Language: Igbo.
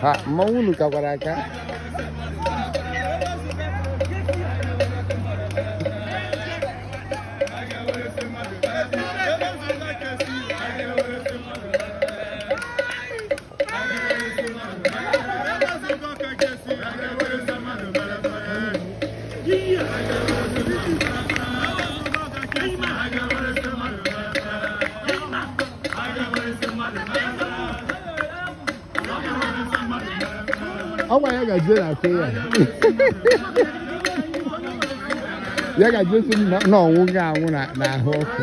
ha mmanwụ unu kakwara aka ọnwa ya gaje na akụ ya ya gaje si m na- na ọnwụ ga anwụ na- n'ahụ ọkụ